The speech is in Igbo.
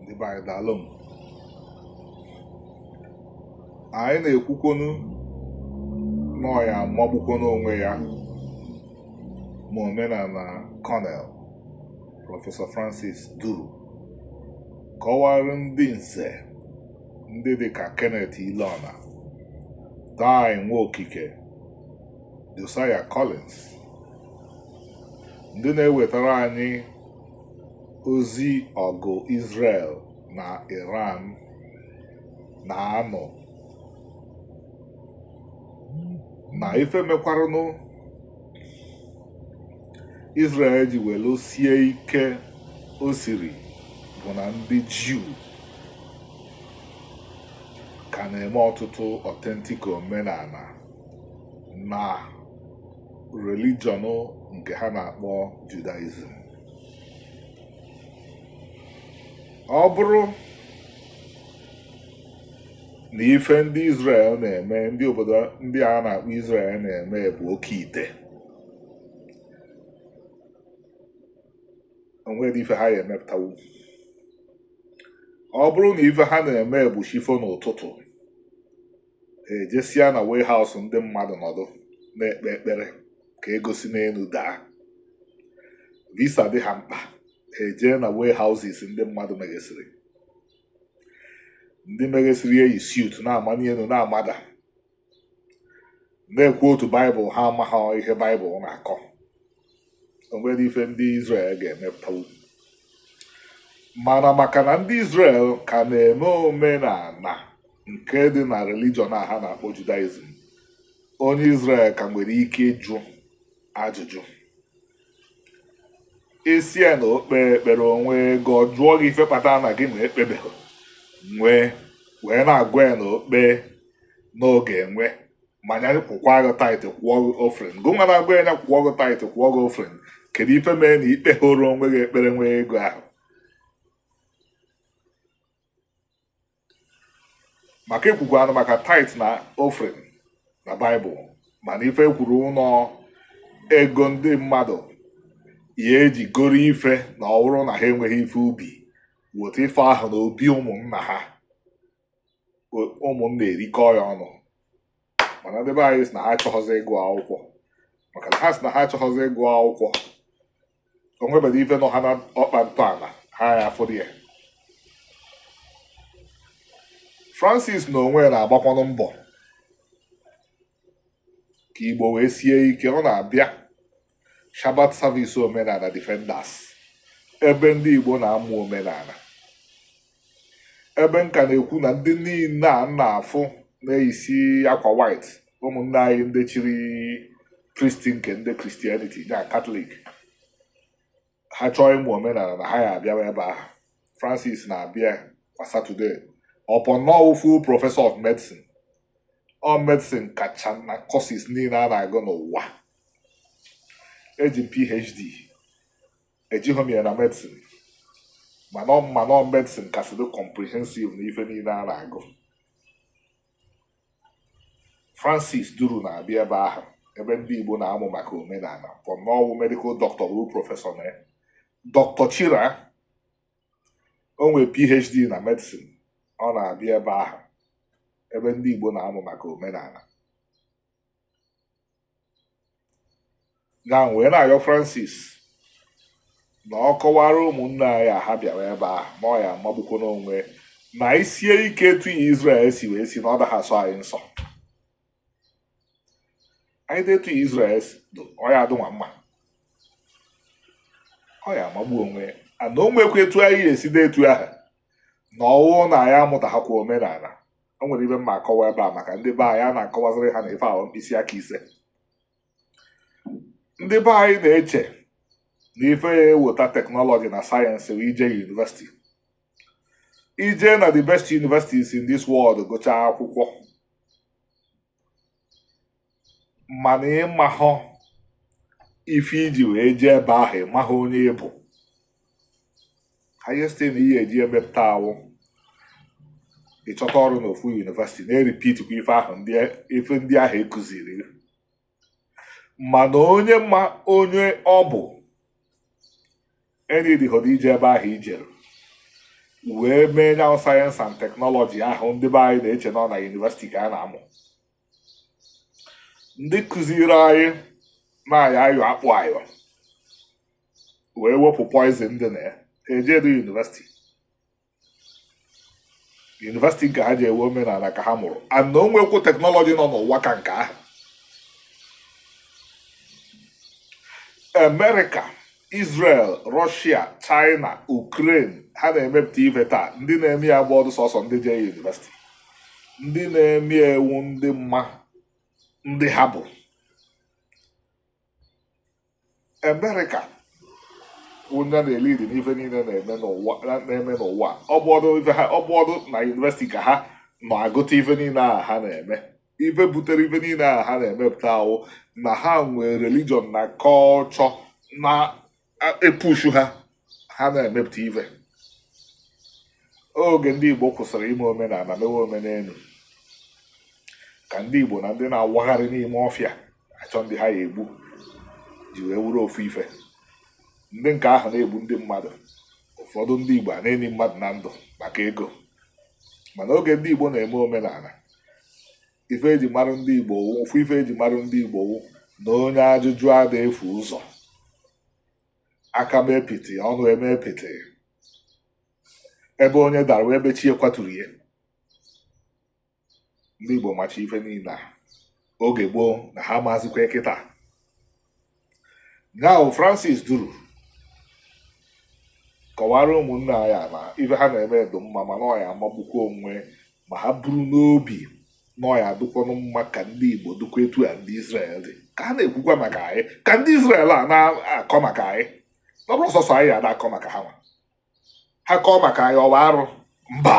ndị be anyị daalụ m anyị na-ekwukwonu na ọ ya-amagbukwonu onwe ya ma omenana kọnel prọfesọ francis duru kọwara ndị nze ndị dị ka kenneth ileọna dai nwaokike josiah collins ndị na-ewetara anyị ozi ọgụ Israel na Iran na-anụ na ife mekwaranụ Israel ji welu sie ike o siri bụ na ndị Juu ka na-eme ọtụtụ authentic omenana na religion nke ha na-akpọ Judaism ọ bụrụ na ife ndị Israel na-eme ndị obodo ndị a na-akpọ Israel na-eme bụ oke ite o nwere ife ha ya-emepụtanwu ọ bụrụ na ife ha na-eme bụ chi fo n'ụtụtụ ejesia na warehouse ndị mmadụ nọdụ na-ekpe ekpere ka ego si n'enu daa visa dị ha mkpa ha ejee na warehouses ndị mmadụ meghesịrị ndị meghesịrị eyi suit na-amani enu na-amada na-equote baịbụl ha amaghị ihe baịbụl na-akọ o nwere ife ndị Izrel ga-emepụtanwu mana maka na ndị Izrel ka na-eme omenana nke dị na religion a ha na-akpọ Judaism onye Izrel ka nwere ike ịjụ ajụjụ ị sị ya na o kpee ekpere o nwee ego ọ jụọ gị ife kpatara na gị nwa ekpebeghị nwee wee na-agwa ya na o kpee na ọ ga-enwe ma nya kwụkwa gị tithe kwụọ gị offering gị nwa na-agwa ya nya kwụọ gị tithe kwụọ gị offering kedu ife mere na ị kpehọrọ onwe gị ekpere nwee ego ahụ maka e kwukwanụ maka tithe na offering na baịbụl mana ife e kwuru na ọ ego ndị mmadụ ya-eji goro ife na ọ bụrụ na ha enweghị ife ubi weta ife ahụ na obi ụmụnna ha ụmụnna erikọọ ya ọnụ mana ndị be anyị sị na ha achọghọzi ịgụ akwụkwọ maka na ha sị na ha achọghọzi ịgụ akwụkwọ o nwebere ife nọ ha n'ọkpa ntọala ha ya afụrụ ya Francis n'onwe ya na-agbakwanụ mbọ ka Igbo wee sie ike ọ na-abịa Shabbat Service Omenala Defenders ebe ndị Igbo na-amụ omenala ebe nka na-ekwu na ndị niile a na-afụ na-eyisi akwa white ụmụnne anyị ndị chiri priest nke ndị Christianity na katọlik ha chọọ ịmụ omenala na ha ya abịawa ebe ahụ Francis na-abịa kwa Satọde upon na ọ wụ full professor of medicine ọ medicine kacha na courses niile a na-agụ n'ụwa eji m PhD ejighị m ya na medicine mana m ma na ọ medicine kasị dị comprehensive na ife niile a na-agụ Francis Duru na-abịa ebe ahụ ebe ndị Igbo na-amụ maka omenala upon na ọ wụ medikal dọkịta ruo prọfesọ na ya dọkịta Chira o nwere PhD na medicine ọ na-abịa ebe ahụ ebe ndị Igbo na-amụ maka omenala na wee na-ayọ Francis na ọ kọwara ụmụnne anyị ahụ bịara ebe ahụ na ọ ya amagbukwọ n'onwe na isie ike etu ihe Izrel si wee si na ọ daghị asọ anyị nsọ anyị dị etu ihe Izrel ọ ya adụnwa mma ọ ya amagbu onwe ya ana o nwekwa etu anyị ga-esi dị etu ahụ na ọ wụ na anyị amụtaghakwa omenala o nwere ife m ma akọwa ebe a maka ndị be anyị a na-akọwaziri ha na ife ahụ mkpịsị aka ise ndị be anyị na-eche na ife ya eweta teknọlọji na sayensị wụ ije yunivesiti ije na the best universities in this world gụchaa akwụkwọ mana ị mahọ ife i ji wee jee ebe ahụ ị mahọ onye ị bụ highest thing ihe eji emepụta awụ ịchọta ọrụ n'ofu yunivesiti na-eripitikwa ife ahụ ife ndị ahụ ekụziri mana onye ma onye ọ bụ enidihọdụ ije ebe ahụ i jere wee mee nya wụ sayensị and teknọlọji ahụ ndị be anyị na-eche nọ na yunivesiti ka a na-amụ ndị kụziri anyị na-ayọ ayọ akpụ ayọ wee wepụ poizin dị na ya ha ejedu yunivesiti yunivesiti nke ha jee wụ omenala ka ha mụrụ and na o nwekwu teknọlọji nọ n'ụwa ka nke ahụ amerịka Israel Russia China Ukraine ha na-emepụta ife taa ndị na-eme ya abụhọdụ sọsọ ndị jee yunivesiti ndị na-eme ewu ndị mma ndị ha bụ America onye na-elidi n'ife niile na-eme n'ụwa ọ bụhọdụ na yunivesiti ka ha nọ agụta ife niile a ha na-eme ife butere ife niile ahụ ha na-emepụta wụ na ha nwee religion na culture na-epushu ha ha na-emepụta ife oge ndị Igbo kwụsịrị ime omenala mewe omenelu ka ndị Igbo na ndị na-awagharị n'ime ọfịa achọ ndị ha ya egbu ji wee wụrụ ofu ife ndị nke ahụ na-egbu ndị mmadụ ụfọdụ ndị Igbo a na-eni mmadụ na ndụ maka ego mana oge ndị Igbo na-eme omenala ife eji marụ ndị Igbo ofu ife eji marụ ndị Igbo wụ na onye ajụjụ ada efu ụzọ aka mee pịtị ọnụ emee pịtị ebe onye dara wụ ebe chi ya kwaturu ya ndị Igbo macha ife niile a oge gboo na ha mazikwa kịta now Francis Duru kọwara ụmụnne anyị na ife ha na-eme dị mma mana ọ ya-amagbukwa onwe ma ha buru n'obi na ọ ya-adụkwanụ mma ka ndị Igbo dụkwa etu a ndị Israel dị ka ha na-ekwukwa maka anyị ka ndị Israel a na-akọ maka anyị ọ bụrọ sọsọ anyị ya na-akọ maka ha nwa ha kọọ maka anyị ọ wụ arụ mba